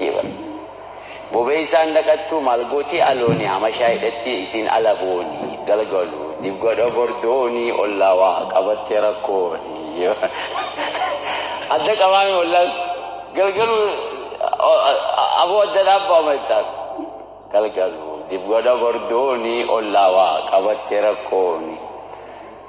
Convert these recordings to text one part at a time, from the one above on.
jee bar bobeysaan dhaqattuu maal gootii alooni hamashaa hidhattii isiin ala booni galgalu dib godha bor dooni ollaa waa qabatte rakkooni adda qabaame ollaan galgalu aboo adda dhaabbaama jettaan galgalu dib godha bor dooni ollaa waa qabatte rakkooni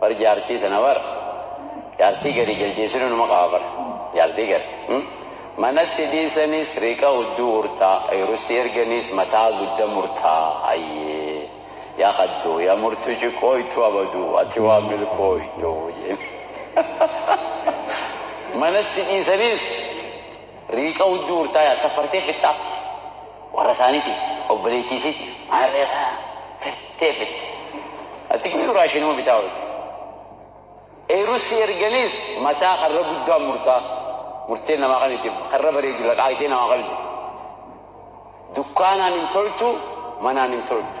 Bar jaartii tana bar jaartii gari jaljeesinu numa qaba bar jaartii gari mana si dhiisanis riqa uddu urta ayru si erganis mataa gudda murta ayyee yaa kaddu yaa murtu ciqooytu abadu ati waa milkooytu mana si dhiisanis Riiqa hujjuu hurtaayaa saffartee fixxaa warra isaaniitiif obboleettii isiitti maarree kana fettee fixxi ati guyyuu raashinuma bitaa oolta eeruu si erganiis mataa karra guddaan murtaa murtee namaa kan itti karra bareedu laqaaqxee namaa qabdi dukkaanaan hin toltu manaan hin toltu